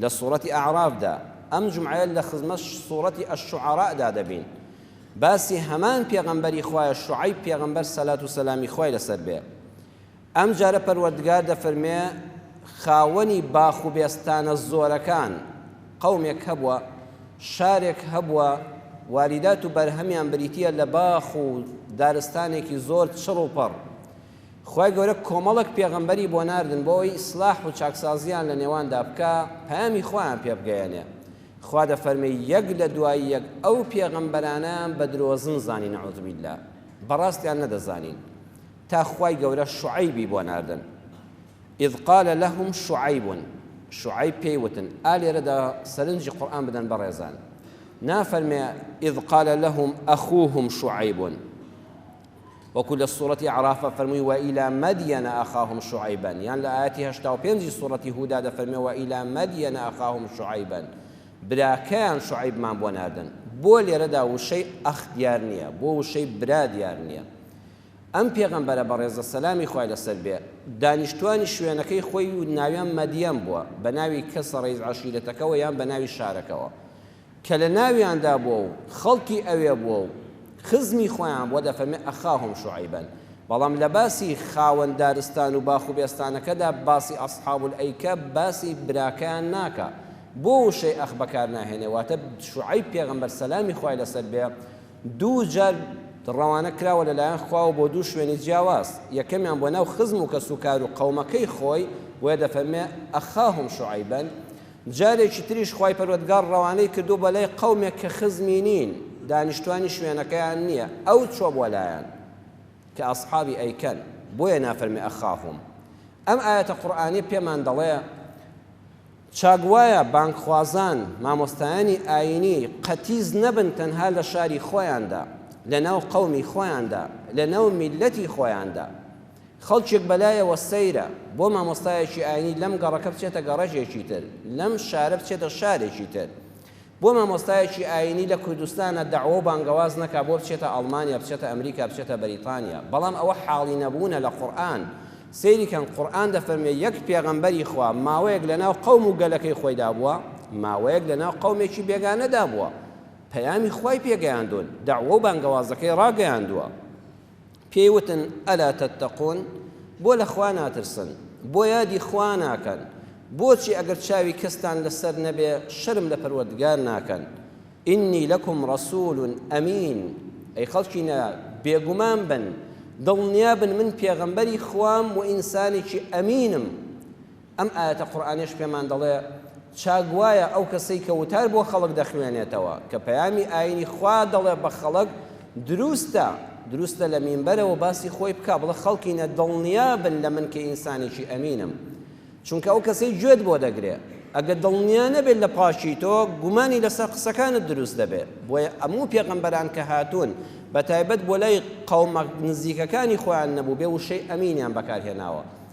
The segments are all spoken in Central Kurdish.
لە سوڕەتی ئەعراف دا، ئەم جومعەیە لە خزمەت سوڕەتی الشعراء دا دەبین، باسی هەمان پێغەمبەری خوایە شوعەیب پێغەمبەر سەلات و سەلامی خوای لەسەر بێ ئەم جارە پەروەردگار دەفەرمێ خاوەنی باخ و بێستانە زۆرەکان قەومێک هەبووە شارێک هەبووە واریدات و بەرهەمیان بریتیە لە باخ و دارستانێکی زۆر چڕ و پڕ خوای گەورە کۆمەڵێک پێغەمبەری بۆ ناردن بۆ ئەوەی ئیسلاح و چاکسازییان لە نێواندا بکا پەیامی خوایان پێ بگەیەنێ خوا دەفەرمێ یەک لە دوای یەک ئەو پێغەمبەرانەیان بە درۆزن زانی نعوذ باللە بەڕاستیان نەدەزانین تا خوای گەورە شعیبی بۆ ناردن اذ قال لهم شعیب شعیب پێی وتن ئا لێرەدا سەرنجی قورآن بدەن بەڕێزان نافەرمێ اذ قال لهم اخوهم شعیب وەکو لە سورەتی اعرافە فەرمووی وەیلا مەدیەنە ئەخاهم شوعەیبەن یان لە ئایەتی هەشتا و پێنجی سورەتی هودا دەفەرمێ وەیلا مەدیەنە ئەخاهم شوعەیبەن براکەیان شوعەیبمان بۆ ناردن بۆ لێرەدا وشەی ئەخ دیار نییە بۆ وشەی برا دیار نییە ئەم پێغەمبەرە بەڕێزە سەلامی خوای لەسەر بێ دانیشتوانی شوێنەکەی خۆی و ناویان مەدیەم بووە بە ناوی کەسە ڕیز عەشیرەتەکەەوە یان بە ناوی شارەکەەوە کە لە ناویاندا بووە و خەڵکی ئەوێ بووە و خزمی خۆیان بووە، دەفەرمێ، ئەخاهم شعیبا، بەڵام لە باسی خاوەن دارستان و باخ و بێستانەکەدا باسی اصحاب الایکە باسی براکەیان ناکا، بۆ وشەی اخ بەکار ناهێنێ، واتە شعیب پێغەمبەر سەلامی خوای لەسەر بێ دوو جار ڕەوانە کراوە لە لایەن خواوە بۆ دوو شوێنی جیاواز، یەکەمیان بۆ ناو خزم و کەسوکار و قەومەکەی خۆی، بۆیە دەفەرمێ، ئەخاهم شعیبا، جارێکی تریش خوای پەروەردگار ڕەوانەی کردووە بە لای قەومێک کە خزمی نین، دانیشتوانی شوێنەکەیان نییە، ئەو چووە بۆ لایان کە ئەسحابی ئەیکەن، بۆیە نافەرمی ئەخافهم. ئەم ئایەتە قورئانیە پێمان دەڵێ چاک وایە بانگخوازان، مامۆستایانی ئایینی قەتیس نەبن تەنها لە شاری خۆیاندا، لەناو قەومی خۆیاندا، لەناو میللەتی خۆیاندا. خەڵکێک بەلایەوە سەیرە، بۆ مامۆستایەکی ئاینی لەم گەڕەکە بچێتە گەڕەکێکی تر، لەم شارە بچێتە شارێکی تر، بۆ مامۆستایەکی ئاینی لە کوردستانا دەعوە و بانگەواز نەکا، بۆ بچێتە ئەڵمانیا، بچێتە ئەمریکا، بچێتە بەریتانیا، بەڵام ئەوە حاڵی نەبوونە لە قورئان، سەیری کەن قورئان دەفەرموێ یەک پێغەمبەری خوا ماوەیەک لەناو قەوم و گەلەکەی خۆیدا بووە، ماوەیەک لەناو قەومێکی بێگانەدا بووە، پەیامی خوای پێگەیاندون، دەعوە و بانگەوازەکەی ڕاگەیاندووە. پێی وتن، الا تتقون، بۆ لە خوا ناترسن، بۆ یادی خوا ناکەن، بۆچی ئەگەر چاوی کەستان لەسەر نەبێ شەرم لە پەروەردگار ناکەن، اننی لەکم رسول امین، ئەی خەڵکینە بێگومان بن، دڵنیا بن من پێغەمبەری خوام وئینسانێکی ئەمینم، ئەم ئایەتە قورئانیەش پێمان دەڵێ، چا گوایە ئەو کەسەی کە وتار بۆ خەڵک دەخوێنێتەوە کە پەیامی ئاینی خوا دەڵێ بە خەڵک، دروستە دروستە لە مینبەرەوە باسی خۆی بکا بڵێ خەڵکینە دڵنیا بن لە من کە ئینسانێکی ئەمینم چونکە ئەو کەسەی گوێت بۆ دەگرێ ئەگەر دڵنیا نەبێت لە پاکی تۆ گومانی لەسەر قسەکانت دروست دەبێت بۆیە ئەموو پێغەمبەران کە هاتوون بەتایبەت بۆ لای قەومە نزیکەکانی خۆیان نەبوو بێ وشەی ئەمینیان بەکارهێناوە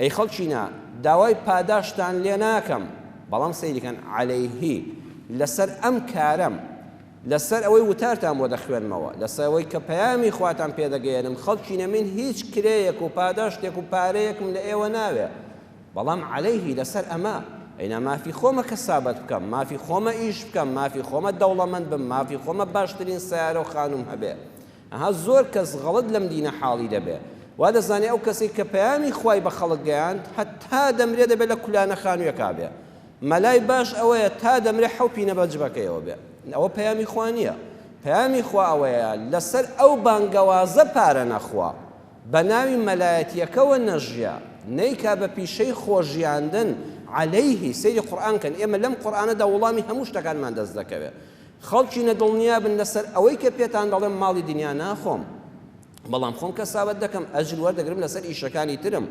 ئەی خەڵکینە داوای پاداشتان لێ ناکەم بەڵام سەیری کەن عەلەیهی لەسەر ئەم کارەم لەسەر ئەوەی وتارتان بۆ دەخوێنمەوە لەسەر ئەوەی کە پەیامی خواتان پێ دەگەیەنم خەڵکینە من هیچ کرێیەک و پاداشتێک و پارەیەکم لە ئێوە ناوێ بەڵام عەلەیهی لەسەر ئەمە ئەینا مافی خۆمە کەسابەت بکەم مافی خۆمە ئیش بکەم مافی خۆمە دەوڵەمەند بم مافی خۆمە باشترین سەیارە و خانووم هەبێ ئەها زۆر کەس غەڵەت لەم دینە حاڵی دەبێ وا دەزانێ ئەو کەسەی کە پەیامی خوای بە خەڵک گەیاند هەتا دەمرێ دەبێ لە کولانە خانوویەکا بێ مەلای باش ئەوەیە تا دەمرێ حەو پینە بە جبەکەیەوە بێ ئەوە پەیامی خوا نییە پەیامی خوا ئەوەیە لەسەر ئەو بانگەوازە پارە نەخوا بە ناوی مەلایەتیەکەوە نەژیا نەیکا بە پیشەی خۆژیاندن عەلەیهی سەیری قورئان کەن ئێمە لەم قورئانەدا وڵامی هەموو شتەکانمان دەست دەکەوێ خەڵکی نە دڵنیا بن لەسەر ئەوەی کە پێتان دەڵێم ماڵی دنیا ناخۆم بەڵام خۆم کەسابەت دەکەم ئەجر وەردەگرم لەسەر ئیشەکانی ترم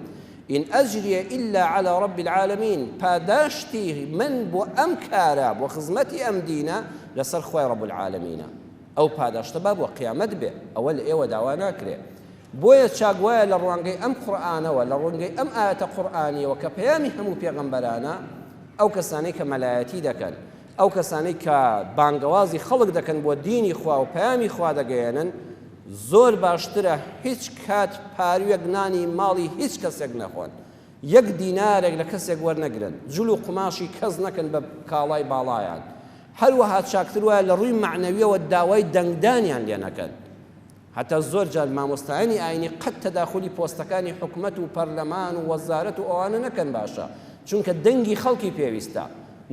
ئین ئەجریە ئیلا علی رب العالمین پاداشتی من بۆ ئەم کارە بۆ خزمەتی ئەم دینە لەسەر خوای رب العالمینە ئەو پاداشتە با بۆ قیامەت بێ ئەوە لە ئێوە داوا ناکرێ بۆیە چاک وایە لە ڕوانگەی ئەم قورئانەوە لە ڕوانگەی ئەم ئاەتە قورئانیەوە کە پەیامی هەموو پێغەمبەرانە ئەو کەسانەی کە مەلایەتی دەکەن ئەو کەسانەی کە بانگەوازی خەڵک دەکەن بۆ دینی خوا و پەیامی خوا دەگەیەنن زۆر باشترە هیچ کات پاروێک نانی ماڵی هیچ کەسێک نەخۆن یەک دینارێک لە کەسێک وەرنەگرن جل و قوماشی کەس نەکەن بە کاڵای باڵایان هەروەها چاکتر وایە لە ڕووی معنەویەوە داوای دەنگدانیان لێ نەکەن هەتا زۆر جار مامۆستایانی ئاینی قەت تەداخولی پۆستەکانی حکومەت و پەرلەمان و وەزارەت و ئەوانە نەکەن باشە چونکە دەنگی خەڵکی پێویستە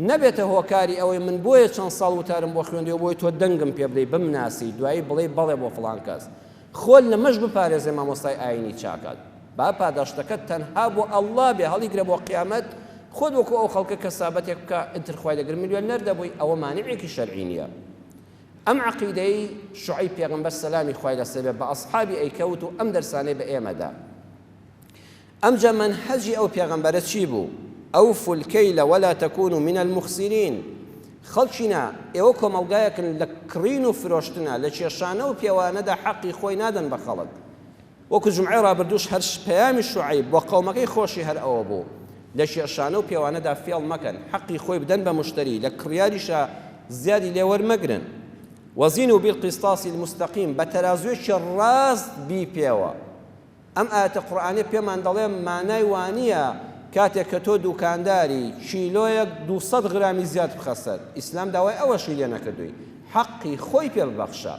نەبێتە هۆکاری ئەوەی من بۆیە چەند ساڵ وتارم بۆ خوێندی و بۆی تۆ دەنگم پێ بدەی بمناسی دوایی بڵێی بەڵێ بۆ فڵان کەس خۆت لەمەش بپارێزێ مامۆستای ئاینی چاکەت با پاداشتەکەت تەنها بۆ ئەڵڵا بێ هەڵیگرە بۆ قیامەت خۆت وەکو ئەو خەڵکە کەسابەتێک بکە ئیتر خوای دەگرت ملیۆنەر دەبووی ئەوە مانعێکی شەرعی نییە ئەم عەقیدەیەی شوعەیب پێغەمبەر سەلامی خوای لەسەر بێت بە ئەسحابی ئەیکەوت و ئەم دەرسانەی بە ئێمە دا. ئەمجا مەنهەجی ئەو پێغەمبەرە چی بوو؟ اوفوا الکیل ولا تکونوا من المخسرین خەڵکینە ئێوە کۆمەڵگایەکن لە کڕین و فرۆشتنا لە کێشانە و پێوانەدا حەقی خۆی نادەن بە خەڵک وەکو جومعەی ڕابردووش هەر پەیامی شوعەیب بۆ قەومەکەی خۆشی هەر ئەوە بوو لە کێشانە و پێوانەدا فێڵ مەکەن حەقی خۆی بدەن بە مشتەری لە کڕیاریشا زیادی لێ وەرمەگرن وزینو بالقسطاس المستقیم بە تەرازوێکی ڕاست بیپێوە ئەم ئایەتە قورئانیە پێمان دەڵێ مانای وانیە کاتێک کە تۆ دوکانداری کیلۆیەک دوو سەد غرامی زیاد بخە سەر ئیسلام داوای ئەوەشی لێ نەکردووی حەقی خۆی پێ ببەخشە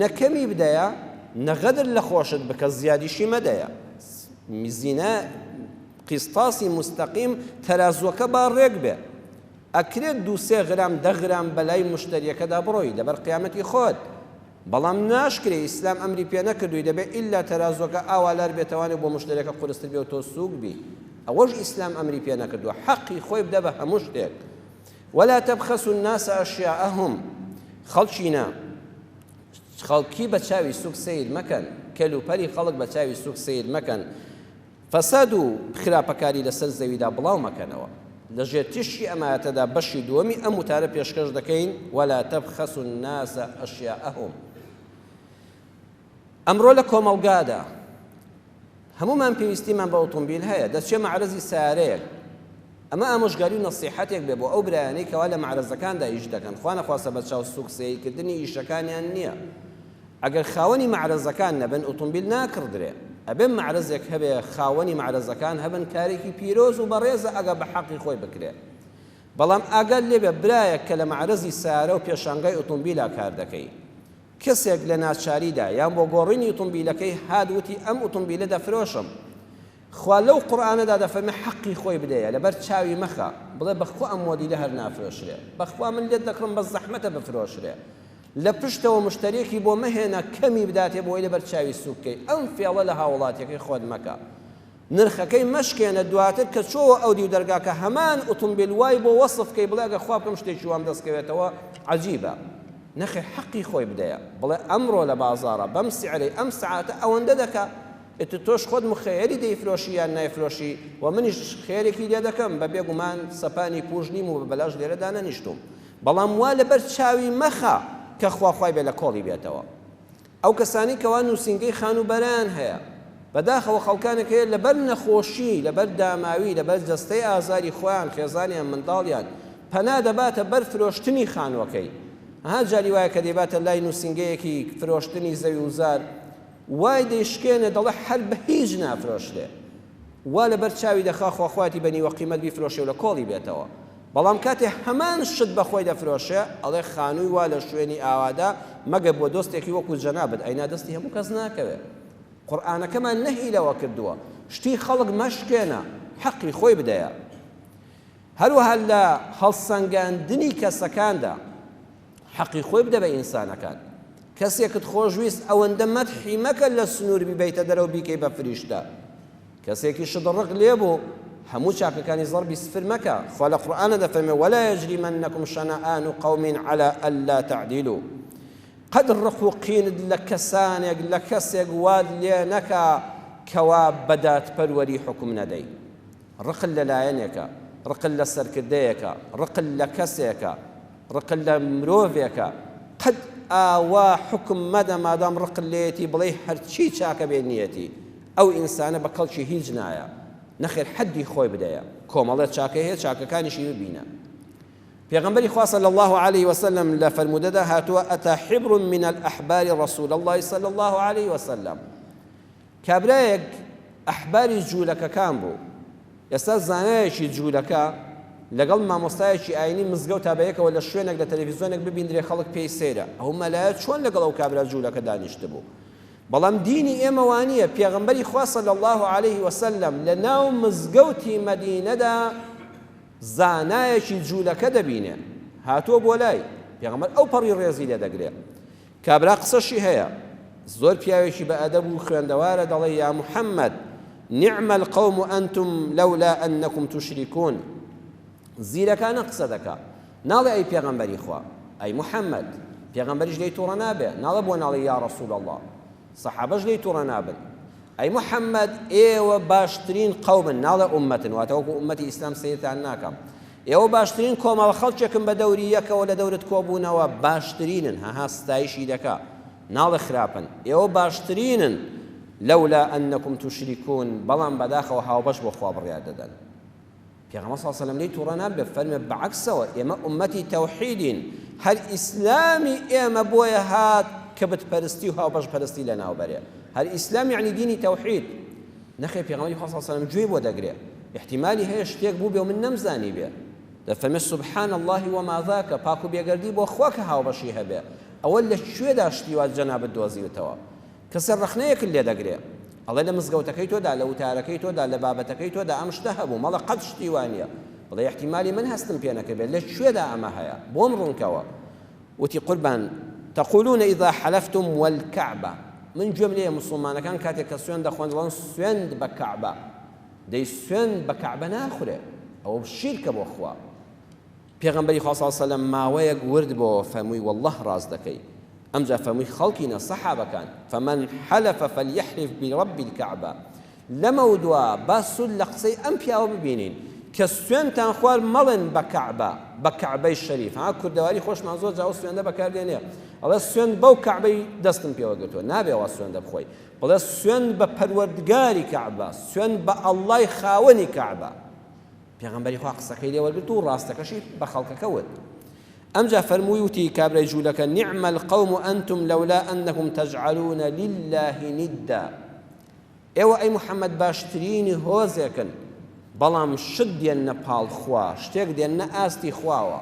نە کەمی بدەیە نە غەدر لە خۆشت بکە زیادیشی مەدەیە میزینە قیستاسی مستەقیم تەرازوەکە با ڕێک بێ ئەکرێت دوو سێ غرام دە غرام بەلای مشتریەکەدا بڕۆی لەبەر قیامەتی خۆت بەڵام ناشکرێ ئیسلام ئەمری پێ نەکردووی دەبێت ئللا تەرازوەکە ئاوالار بێتوانێت بۆ مشتریەکە قورستر بێ و تۆ سووک بی ئەوەش ئیسلام ئەمری پێ نەکردووە حەقی خۆی بدە بە هەموو شتێک ولا تبخسوا الناس اشیاءهم خەڵکینە خەڵکی بە چاوی سوک سیر مەکەن کەل و پەلی خەڵک بە چاوی سوک سیر مەکەن فەساد و خراپەکاری لەسەر زەویدا بڵاو مەکەنەوە لە ژێر تیشکی ئەمایەتەدا بەشی دووەمی ئەم وتارە پێشکەش دەکەین ولا تبخسوا الناس اشیاءهم ئەمڕۆ لە کۆمەڵگادا هەموومان پێویستیمان بە ئۆتۆمبیل هەیە، دەچێ مەعرەزی سەیارەیەک، ئەمە ئامۆژگاری و نەسیحەتێک بێ بۆ ئەو برایانەی کەوا لە مەعرەزەکاندا ئیش دەکەن، خوانەخواستە بە چاو سووک سەیر کردنی ئیشەکانیان نییە، ئەگەر خاوەنی مەعرەزەکان نەبن ئۆتۆمبیل ناکڕدرێ، ئەبێ مەعرەزێک هەبێ خاوەنی مەعرەزەکان هەبن، کارێکی پیرۆز و بەڕێزە ئەگەر بە حەقی خۆی بکرێ، بەڵام ئاگات لێبێ برایەک کە لە مەعرەزی سەیارە و پێشانگای ئۆتۆمبیلا کار دەکەی، کەسێک لە ناچاریدا یان بۆ گۆڕینی ئوتومبیلەکەی هات وتی ئەم ئوتومبیلە دەفرۆشم خوا لەو قورئانەدا دەفەرمێ حەقی خۆی بدەیە لەبەر چاوی مەخە بڵێ بەخوا ئەم مۆدیلە هەر نافرۆشرێ بەخوا من لێت دەکڕم بەس زەحمەتە بفرۆشرێ لە پشتەوە مشتەرێکی بۆ مەهێنە کەمی بداتێ بۆی لەبەر چاوی سووک کەی ئەم فێڵە لە هاوڵاتیەکەی خۆت مەکە نرخەکەی مەشکێنە دواتر کە چۆوە ئەو دیو دەرگاکە هەمان ئوتومبیل وای بۆ وەسف کەی بڵێ ئەگەر خوا بکەم شتێکی وام دەست کەوێتەوە عەجیبە نەخێ حەقی خۆی بدەیە بڵێ ئەمڕۆ لە بازاڕە بەم سعرەی ئەم سعاتە ئەوەندە دەکا ئیتر تۆش خۆت مخەیەلی دەیفرۆشی یان نایفرۆشی و منیش خێرێکی لێ دەکەم بە بێگومان سەپانی پوش نیم و بە بەلاش لێرە دانەنیشتووم بەڵام وا لەبەر چاوی مەخە کە خوا خوای بێ لە کۆڵی بێتەوە ئەو کەسانەی کەوا نووسینگەی خانووبەرەیان هەیە، بەداخەوە خەڵکانێک هەیە لەبەر نەخۆشی، لەبەر داماوی، لەبەر جەستەی ئازاری خۆیان، خێزانیان، منداڵیان، پەنا دەباتە بەر فرۆشتنی خانووەکەی. ئەها جاری وایە کە دەیباتە لای نووسینگەیەکی فرۆشتنی زەویوزار، وای دەیشکێنێ دەڵێ هەر بە هیچ نافرۆشرێ. وا لەبەر چاوی دەخا خۆ خۆیەتی بە نیوە قیمەت بیفرۆشێ و لە کۆڵی بێتەوە. بەڵام کاتێ هەمان شت بە خۆی دەفرۆشێ ئەڵێ خانووی وا لە شوێنی ئاوادا مەگەر بۆ دۆستێکی وەکوو جەنابت ئەینا دەستی هەموو کەس ناکەوێ قورئانەکەمان نەهی لەوە کردووە شتی خەڵک مەشکێنە حەقی خۆی بدەیە هەروەها لە هەڵسەنگاندنی کەسەکاندا حەقی خۆی بدە بە ئینسانەکان کەسێکت خۆشویست ئەوەندە مەدحی مەکە لە سنوور بیبەیتە دەرەوە بیکەی بە فریشتە کەسێکی شت ڕق لێبوو هەموو چاکەکانی زەربی سفر مەکە خوا لە قورئانا دەفەرمێ ولا یجریمنکم شنآن قوم علی الا تعدیلو قەت ڕق و قینت لە کەسانێک لە کەسێک وات لێ نەکا کەوا بە دادپەروەری حوکم نەدەی ڕقل لە لایەنێکە ڕقل لە سەرکردەیەکە ڕقل لە کەسێکە ڕقل لە مرۆڤێکە قەت ئاوا حوکم مەدە مادام ڕقت لێیەتی بڵێی هەرچی چاکە بێ نیەتی ئەو ئینسانە بە کەڵکی هیچ نایە. نەخێر حەدی خۆی بدەیە. کۆمەڵێ چاکەی هەیە چاکەکانیشی ببینە. پێغەمبەری خوا صلی اللە علیه وسلم لە فەرموودەدا هاتووە، اتی حبر من الاحبار رسول اللە صلی اللە علیه وسلم. کابرایەک ئەحباری جوولەکەکان بوو. ئێستا زانایەکی جوولەکە لەگەڵ مامۆستایەکی ئاینی مزگەوتا بەیەکەوە لە شوێنێک لە تەلەفیزۆنێک ببیندرێ خەڵک پێی سەیرە. ئەو مەلایە چۆن لەگەڵ ئەو کابرا جوولەکە دانیشتبوو؟ بەڵام دینی ئێمە وانیە، پێغەمبەری خوا صلی اللە علیە وسلم لە ناو مزگەوتی مەدینەدا زانایەکی جولەکە دەبینێ هاتووە بۆ لای، پێغەمبەر ئەو پەڕی ڕێزی لێ دەگرێ، کابرا قسەشی هەیە زۆر پیاوێکی بە ئەدەب و خوێندەوارە دەڵێ، یا محمد نعم القوم انتم لولا انکم تشرکون زیرەکانە قسە دەکا، ناڵێ ئەی پێغەمبەری خوا، ئەی محمد، پێغەمبەریش لێی توڕە نابێ، ناڵێ بۆ ناڵێی یا رسول اللە، سەحابەش لێی توڕە نابن، ئەی محمد ئێوە باشترین قەومن، ناڵێ ئوممەتن، واتە وەکو ئوممەتی ئیسلام سەیرتان ناکەم، ئێوە باشترین کۆمەڵە خەڵکێکن بە دەوری یەکەوە لە دەورت کۆبوونەوە باشترینن، هەها ستایشی دەکا، ناڵێ خراپن، ئێوە باشترینن، لولا انکم تشرکون، بەڵام بەداخەوە هاوبەش بۆ خوا بڕیار دەدەن. پێغەمبەر صلی اللە علیە و سلم لێی توڕە نابێت فەرمێ بەعەکسەوە ئێمە ئومەتی تەوحیدین هەر ئیسلامی ئێمە بۆیە هات کە بت پەرستی و هاوبەش پەرستی لەناو بەرێ هەر ئیسلام یعنی دینی تەوحید نەخێ پێغەمبەری خوا صلی اللە علیە و سلم گوێی بۆ دەگرێ احتمالی هەیە شتێک بوو بێ و من نەمزانی بێ دەفەرمێ سبحان الله وما ذاک پاک و بێگەردی بۆ خوا کە هاوبەشی هەبێ ئەوە لە کوێدا شتی وا جەنابت دۆزیوتەوە کەسە ڕەخنەیەکت لێ دەگرێ ئەڵێ لە مزگەوتەکەی تۆدا لە وتارەکەی تۆدا لە بابەتەکەی تۆدا ئەم شتە هەبوو مەڵێ قەت شتی وا نیە بڵێ ئیحتیمالی من هەستم پێ نەکردبێ لە کوێدا ئەمە هەیە بۆم ڕوونکەوە وتی قوربان تقولون اذا حلفتم والکعبە من گوێم لێیە موسڵمانەکان کاتێک کە سوێن دەخۆن دەڵێن سوێند بە کەعبە دەی سوێند بە کەعبە ناخورێ ئەوە شیرکە بۆ خوا پێغەمبەری خوا صلی اللە علیە و سلم ماوەیەک ورد بۆوە فەرمووی واللە ڕاست دەکەی ئەمجا فەرمووی خەڵکی نە صەحابەکان فمن حلف فلیحلف برب الکعبە لەمەودوا با سود لە قسەی ئەم پیاوە ببینین کە سوێنتان خوارد مەڵێن بە کەعبە بە کەعبەی شەریف ها کوردەواری خۆشمان زۆر جاو سوێندە بەکار دێنێ ئەڵێ سوێند بەو کەعبەی دەستم پێوە گرتووە نابێ وا سوێندە بخۆی بڵێ سوێند بە پەروەردگاری کەعبە سوێند بە ئەڵڵای خاوەنی کەعبە پێغەمبەری خوا قسەکەی لێ وەرگرت و ڕاستەکەشی بە خەڵکەکە وت. ئەمجا فەرمووی وتی کابرای جوولەکە نعم القوم انتم لولا انکم تجعلون لله ندا ئێوە ئەی محەممەد باشترینی هۆزێکن بەڵام شت دێننە پاڵ خوا شتێک دێننە ئاستی خواوە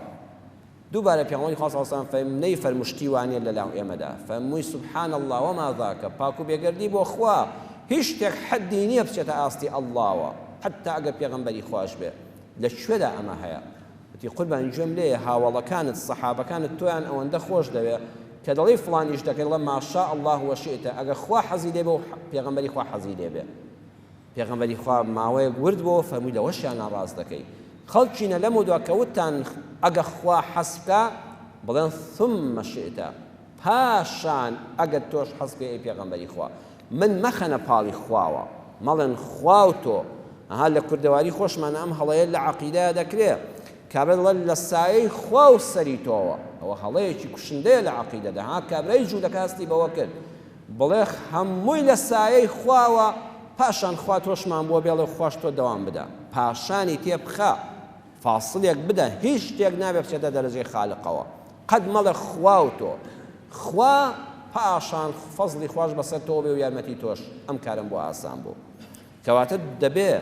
دووبارە پێغەمبەری خوا صلی اللە علیە وسلم فەرمووی نەیفەرموو شتی وا نیە لە لام ئێمەدا، فەرمووی سبحان اللە وما ذاک، پاک و بێگەردی بۆ خوا، هیچ شتێک حەدی نیە بچێتە ئاستی اللەوە، حەتتا ئەگەر پێغەمبەری خواش بێ، لە کوێدا ئەمە هەیە؟ وتی قوربانی گوێم لێیە هاوەڵەکانت، سەحابەکانت تۆیان ئەوەندە خۆش دەوێ کە دەڵێی فڵان ئیش دەکەی دەڵێ ماشاء اللە وشئت، ئەگەر خوا حەزی لێ بێ و پێغەمبەری خوا حەزی لێ بێ. پێغەمبەری خوا ماوەیەک ورد بۆوە فەرمووی لەوەشیان ناڕاست دەکەی خەڵکینە لەمەودوا کە وتتان ئەگە خوا حەز بکا بڵێن ثم شئت پاشان ئەگەر تۆش حەز بکەی ئەی پێغەمبەری خوا من مەخەنە پاڵی خواوە مەڵێن خوا و تۆ ئەها لە کوردەواری خۆشمانە ئەم هەڵەیە لە عەقیدەیە دەکرێ کابرای دەڵێت لە سایەی خوا و سەری تۆوە ئەوە هەڵەیەکی کوشندەیە لە عەقیدەدا ها کابرای جوولەکە هەستی بەوە کرد بڵێ هەمووی لە سایەی خواوە پاشان خوا تۆشمان بۆ بێڵێ و خواش تۆ دەوام بدە پاشانی تێ بخە فاسڵێک بدە هیچ شتێک نابێ بچێتە دەرەجەی خالقەوە قەد مەڵێ خوا و تۆ خوا پاشان فەزڵی خواش بەسەر تۆ بێ و یارمەتی تۆش ئەم کارەم بۆ ئاسان بوو کەواتە دەبێ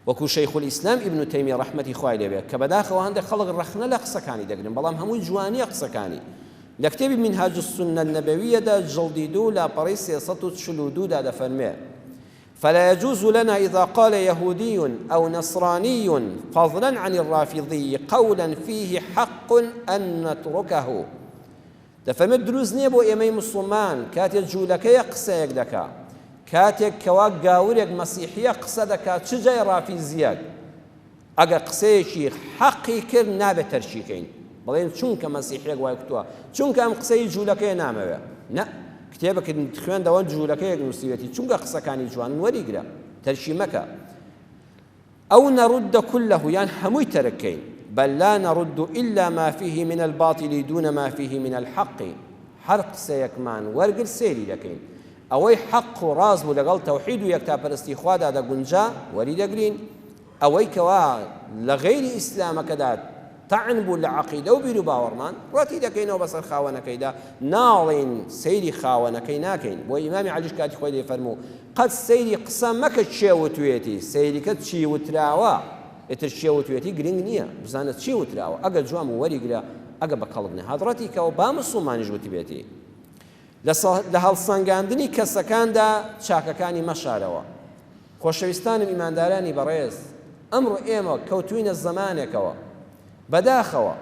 وەکو شیخ الاسلام ابن تیمیە ڕەحمەتی خوای لێ بێ کە بەداخەوە هەندێک خەڵک ڕەخنە لە قسەکانی دەگرن بەڵام هەمووی جوانیە قسەکانی لە کتێبی منهاج السنە النبویە دا جڵدی دوو لاپەڕەی سێ سەد و چل و دوو دا دەفەرموێ فلا يجوز لنا اذا قال يهودي او نصراني فضلا عن الرافضي قولا فيه حق ان نتركه دەفەرمێت دروست نیە بۆ ئێمەی موسڵمان کاتێ جولەکەیەک قسەیەک دەکا کاتێک کەوا گاورێک مەسیحیەک قسە دەکا چ جای ڕافیزیەک ئەگەر قسەیەکی حەقی کرد نابێت تەرکی کەین بڵێن چونکە مەسیحیەک وای کوتوە چونکە ئەم قسەی جولەکەی نامەوێ نە کتێبەکەت خوێندەوە جولەکەیەک نووسیوێتی چونکە قسەکانی جوان وەریگرە تەرکی مەکە او نرد کله یان هەمووی تەرک کەین بل لا نرد الا ما فیه من الباطل دون ما فیه من الحق هەر قسەیەکمان وەرگرت سەیری دەکەین ئەوەی حەق و ڕاست بوو لەگەڵ تەوحید و یەکتاپەرستی خوادا دەگونجا وەریدەگرین ئەوەی کەوا لە غەیری ئیسلامەکەدا تەعن بوو لە عەقیدە و بیروباوەڕمان، ڕەتی دەکەینەوە بەسەر خاوەنەکەیدا، ناڵێین سەیری خاوەنەکەی ناکەین، بۆیە ئیمامی عەلیش کاتی خۆی دەیفەرموو، قەت سەیری قسە مەکە کێ وتویەتی، سەیرکە چی وتراوە، ئیتر کێ وتویەتی گرنگ نییە، بزانە چی وتراوە، ئەگەر جوان بوو وەریگرە، ئەگەر بە کەڵک نەهات ڕەتیکەوە، با موسڵمانیش وتبێتی. لە هەڵسەنگاندنی کەسەکاندا چاکەکانی مەشارەوە. خۆشەویستانم ئیماندارانی بەڕێز ئەمڕۆ ئێمە کەوتووینە زەمانێکەوە بەداخەوە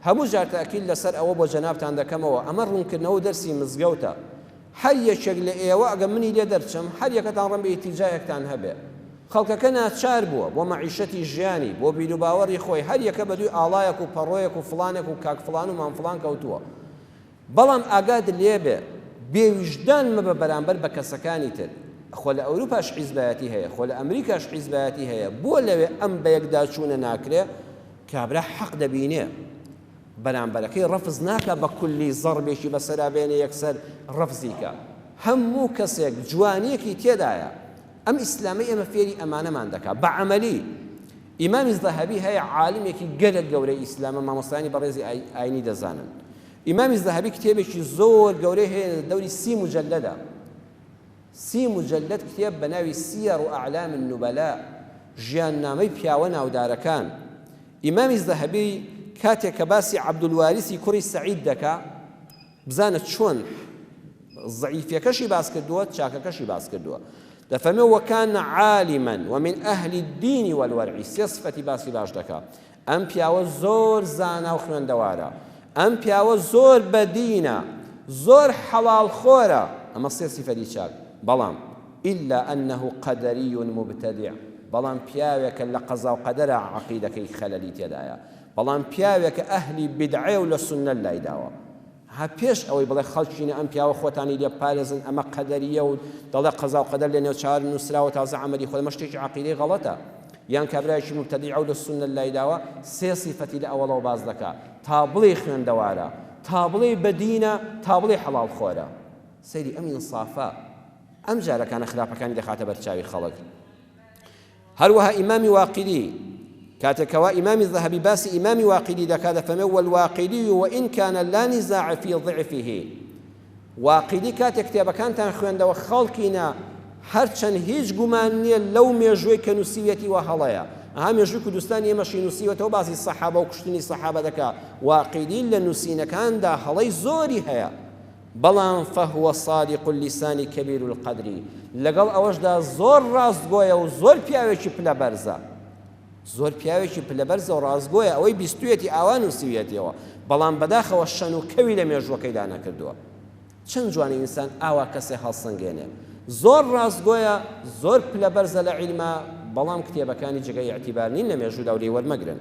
هەموو جار تەئکید لەسەر ئەوە بۆ جەنابتان دەکەمەوە ئەمە ڕوونکردنەوە و دەرسی مزگەوتە هەر یەکێک لە ئێوە ئەگەر منی لێ دەرچم هەر یەکەتان ڕەنبە ئیتیجایەکتان هەبێ خەڵکەکە ناچار بووە بۆ مەعیشەتی ژیانی بۆ بیروباوەڕی خۆی هەر یەکە بەدووی ئاڵایەک و پەڕۆیەک و فڵانێک و کاک فڵان و مام فڵان کەوتووە بەڵام ئاگات لێبێ بێ ویژدان مەبە بەرامبەر بە کەسەکانی تر خۆ لە ئەوروپاش حیزبایەتی هەیە خۆ لە ئەمریکاش حیزبایەتی هەیە بۆ لەوێ ئەم بەیەکداچوونە ناکرێ کابرا حەق دەبینێ بەرامبەرەکەی ڕەفز ناکا بە کولی زەڕبێکی بەسەرا بێنێ یەکسەر ڕەفزی کا هەموو کەسێک جوانیەکی تێدایە ئەم ئیسلامەی ئێمە فێری ئەمانەمان دەکا بە عەمەلی ئیمامی زەهەبی هەیە عالمێکی گەلەک گەورەی ئیسلامە مامۆستایانی بەڕێزی ئاینی دەزانن ئیمامی زەهەبی کتێبێکی زۆر گەورەی هەیە لە دەوری سی مجلدە سی مجلد کتێب بە ناوی سیەڕ و ئەعلام النوبەلا ژیان نامەی پیاوە ناودارەکان ئیمامی زەهەبی کاتێک کە باسی عەبدولواریسی کوڕی سەعید دەکا بزانە چۆن زەعیفیەکەشی باس کردووە چاکەکەشی باس کردووە دەفەرمێ وەکان عالما ومن ئەهلی الدین والورع سێ سفەتی باسی باش دەکا ئەم پیاوە زۆر زانا و خوێندەوارە ئەم پیاوە زۆر بەدینە زۆر حەڵاڵ خۆرە ئەمە سێ سفەتی چاک بەڵام إلا أنه قدري مبتدع بەڵام پیاوێکە لە قەزا و قەدەرە عقیدەکەی خەلەلی تێدایە بەڵام پیاوێکە ئەهلی بیدعەیە و لە سوننە لایداوە ها پێش ئەوەی بڵێ خەڵکینە ئەم پیاوە خۆتانی لێ بپارێزن ئەمە قەدەریە و دەڵێ قەزا و قەدەر لە نێو چاوان نوسراوە تازە عەمەلی خۆی ئەمە شتێکی عەقیدەی غەڵەتە یان کابرایەکی مبتدیعە و لە سوننە لایداوە سێ سیفەتی لە ئەوەڵەوە باس دەکا تا بڵێ خوێندەوارە تا بڵێ بەدینە تا بڵێ حەڵاڵ خۆرە سەیری ئەم ئینسافە ئەم جارەکانە خراپەکانی دەخاتە بەرچاوی خەڵک هەروەها ئیمامی واقیدی کاتێک کەوا ئیمامی زەهەبی باسی ئیمامی واقیدی دەکات دەفەرمێ والواقیدی وئین کان لا نزاع فی ضعفه واقیدی کاتێک کتێبەکانتان خوێندەوە خەڵکینە هەرچەند هیچ گومان نییە لەو مێژووی کە نووسیویەتی وە هەڵەیە ئەها مێژووی کوردستان ئێمەشی نووسیوەتەوە باسی سەحابە و کوشتنی سەحابە دەکا واقیدی لە نووسینەکاندا هەڵەی زۆری هەیە بەڵام فهو صادق اللسان کبیر القدر لەگەڵ ئەوەشدا زۆر ڕاستگۆیە و زۆر پیاوێکی پلە بەرزە زۆر پیاوێکی پلە بەرزە و ڕاستگۆیە ئەوەی بیستویەتی ئاوا نووسیویەتیەوە بەڵام بەداخەوە شەن و کەوی لە مێژووەکەیدا نەکردووە چەند جوانی ئینسان ئاوا کەسێ هەڵسەنگێنێ زۆر ڕاستگۆیە زۆر پلە بەرزە لە عیلما بەڵام کتێبەکانی جگە ئیعتیبار نین لە مێژوودا و لێی وەرمەگرن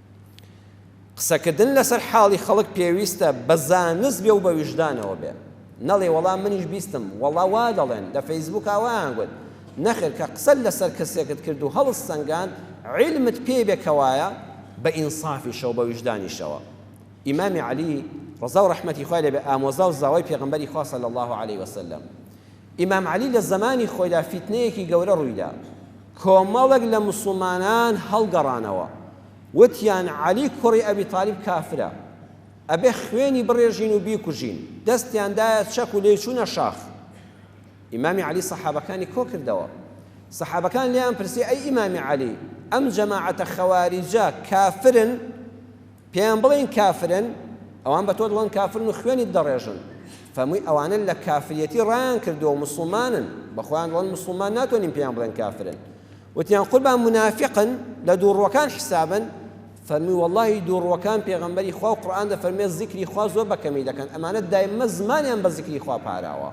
قسەکردن لەسەر حاڵی خەڵک پێویستە بە زانست بێ و بە ویژدانەوە بێ نەڵێ وەڵا منیش بیستم وەڵا وا دەڵێن لە فەیسبووکا وایان گوت نەخێر کە قسەت لەسەر کەسێکت کرد و هەڵست سەنگاند عیلمت پێی بێ کەوایە بە ئینسافیشەوە بە ویژدانیشەوە ئیمامی عەلی ڕەزا و ڕەحمەتی خوای لێ بێ ئامۆزا و زاوای پێغەمبەری خوا صلی الله علیه وسلم ئیمام عەلی لە زەمانی خۆیدا فیتنەیەکی گەورە ڕوویدا کۆمەڵێک لە موسڵمانان هەڵگەڕانەوە وتیان عەلی کوڕی ئەبی تالیب کافرە ئەبێ خوێنی بڕێژین و بیکوژین دەستیان دایە چەک و لێی چوونە شاخ ئیمامی عەلی سەحابەکانی کۆکردەوە سەحابەکان لێیان پرسی ئەی ئیمامی عەلی ئەم جەماعەتە خەواریجە کافرن پێیان بڵێن کافرن، ئەوان بە تۆ دڵێن کافرن و خوێنیت دەڕێژن، فەرمووی ئەوانە لە کافریەتی ڕایان کردووە و موسڵمانن، بە خۆیان دەڵێن موسڵمان ناتوانین پێیان بڵێن کافرن، وتیان قوربان مونافیقن، لە دووڕووەکان حیسابن، فەرمووی وەڵڵاهی دووڕووەکان پێغەمبەری خوا و قورئان دەفەرموێت زیکری خوا زۆر بە کەمی دەکەن، ئەمانە دایمە زمانیان بە زیکری خوا پاراوە.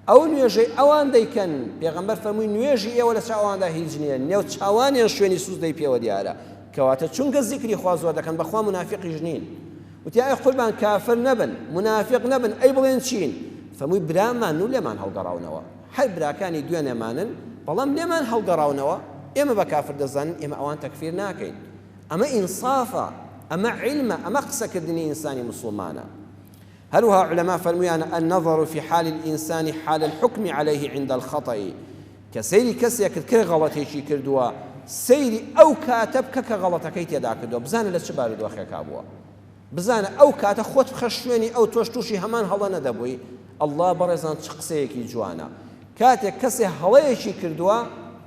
ئەو نوێژەی ئەوان دەیکەن، پێغەمبەر فەرمووی، نوێژی ئێوە لە چاو ئەواندا هیچ نییە، نێوچاوانیان شوێنی سوجدەی پێوە دیارە، کەواتە چونکە زیکری خوا زۆر دەکەن بەخوا مونافیقیش نین. وتی، ئای قوربان کافر نەبن، مونافیق نەبن، ئەی بڵێن چین؟ فەرمووی، برامان و لێمان هەڵگەڕاونەوە. هەر براکانی دوێنێمانن، بەڵام لێمان هەڵگەڕاونەوە، ئێمە بە کافر دەزانین، ئێمە ئەوان تەکفیر ناکەین. ئەمە ئینسافە، ئەمە عیلمە، ئەمە قسەکردنی ئینسانی موسڵمانە. هەروها علماء فەرمویانە، النظر فی حال الانسان حال الحکم علیه عند الخطئ، کە سەیری کەسێکت کرد غەڵەتێکی کردووە، سەیری ئەو کاتە بکە کە غەڵەتەکەی تێدا کردووە، بزانە لە چ بارودۆخێکا بووە، بزانە ئەو کاتە خۆت بخە شوێنی ئەو تۆش تووشی هەمان هەڵە نەدەبووی، اللە بەڕێزان چ قسەیەکی جوانە. کاتێک کەسێ هەڵەیەکی کردووە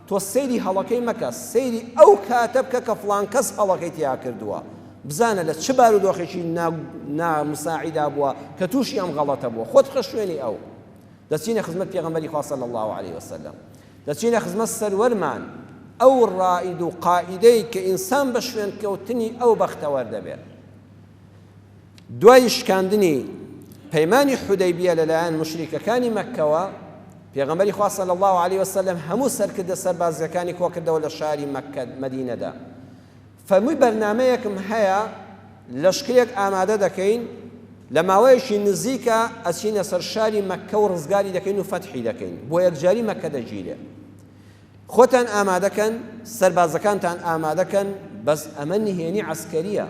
تۆ سەیری هەڵەکەی مەکە سەیری ئەو کاتە بکە کە فڵان کەس هەڵەکەی تیا کردووە بزانە لە چ بارودۆخێکی نا نا مساعیدا بووە کە تووشی ئەم غەڵەتە بووە خۆت بخە شوێنی ئەو دەچینە خزمەت پێغەمبەری خوا صلی الله علیه وسلم دەچینە خزمەت سەروەرمان ئەو ڕائید و قائیدەی کە ئینسان بە شوێنکەوتنی ئەو بەختەوەر دەبێت دوای شکاندنی پەیمانی حودەیبیە لەلایەن موشریکەکانی مەککەوە، پێغەمبەری خوا صلی اللە علیە وسلم هەموو سەرکردە سەربازیەکانی کۆکردەوە لە شاری مەککە، مەدینەدا فەرمووی بەرنامەیەکم هەیە لەشکرێک ئامادە دەکەین لە ماوەیەکی نزیکە ئەچینە سەر شاری مەککە و ڕزگاری دەکەین و فەتحی دەکەین بۆ یەکجاری مەککە دەگیرێ. خۆتان ئامادە کەن سەربازەکانتان ئامادە کەن بەس ئەمە نهێنی عەسکەریە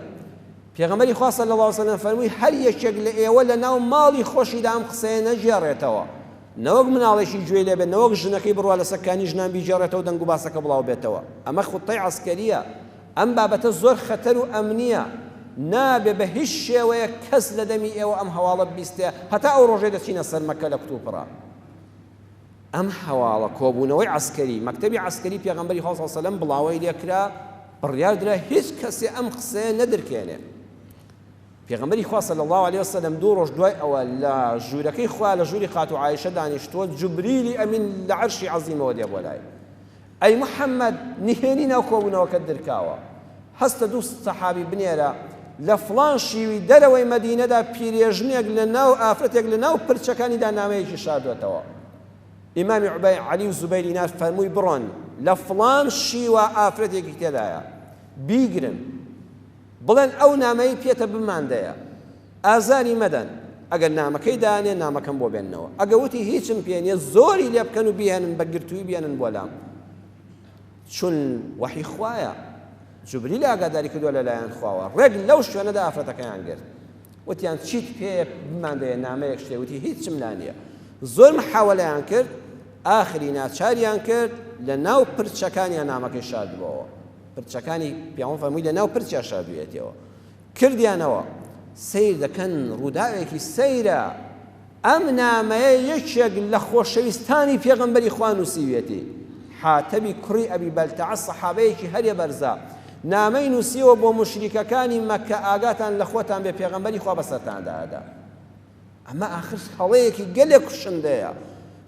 پێغەمبەری خوا صلی الله علیه و سلم فەرمووی هەر یەکێک لە ئێوە لە ناو ماڵی خۆشیدا ئەم قسەیە نەگێڕێتەوە نەوەک مناڵێکی گوێ لێ بێت نەوەک ژنەکەی بڕوا لە سەکانی ژنان بیگێڕێتەوە دەنگ و باسەکە بڵاو بێتەوە ئەمە خوتەی عەسکەریە ئەم بابەتە زۆر خەتەر و ئەمنیە نابێ بە هیچ شێوەیە کەس لە دەمی ئێوە ئەم هەواڵە بیستێ هەتا ئەو ڕۆژەی دەچینە سەر مەکە لە کوتوپڕە ئەم هەواڵە کۆبوونەوەی عەسکەری، مەکتەبی عەسکەری پێغەمبەری خوا صلی سەلەم بڵاوەی لێ کرا، بڕیار درا هیچ کەسێ ئەم قسەیە نەدرکێنێ. پێغەمبەری خوا صلی اللە علیە وسلم دوو ڕۆژ دوای ئەوە لە ژوورەکەی خوا لە ژووری خاتوو عائیشە دانیشتووە، جبریلی ئەمین لە عەرشی عەزیمەوە دێ بۆ لای. ئەی محمد نهێنی ناو کۆبونەوەکەت درکاوە هەستە دوو سەحابی بنێرە لە فڵان شیوی دەرەوەی مەدینەدا پیرێژنێک لە ناو ئافرەتێک لە ناو پرچەکانیدا نامەیەکی شاردوەتەوە ئیمامی عبای علی و زوبەی دینار فەرمووی بڕۆن لە فڵان شیوە ئافرەتێکی تێدایە بیگرن بڵێن ئەو نامەی پێتە بماندەیە ئازاری مەدەن، ئەگەر نامەکەی دانێ نامەکەم بۆ بێننەوە، ئەگە وتی هیچم پێ نیە زۆری لێ بکەن و بیهێنن بە گرتووی بێنن بۆ لام چون وەحی خوایە، جوبریل ئاگاداری کردووە لە لایەن خواوە، ڕێک لەو شوێنەدا ئافرەتەکەیان گرت وتیان چیت پێیە بمان دەیە نامەیەک شتێ وتی هیچم لا نیە زۆر محاوەلەیان کرد ئاخری ناچاریان کرد لە ناو پرچەکانیان نامەکەی شاردبەوە پرچەکانی پیاوان فەرمووی لە ناو پرچیا شاردویەتەوە کردیانەوە سەیر دەکەن ڕووداوێکی سەیرە ئەم نامەیە یەکێک لە خۆشەویستانی پێغەمبەری خوا نووسیویەتی حاتەبی کوڕی ئەبی بەلتەعە سەحابەیەکی هەرێ بەرزە نامەی نووسیەوە بۆ مشریکەکانی مەکە ئاگاتان لە خۆتان بێ پێغەمبەری خوا بەسەرتاندادا ئەمە ئاخر هەڵەیەکی گەلێک کوشندەیە،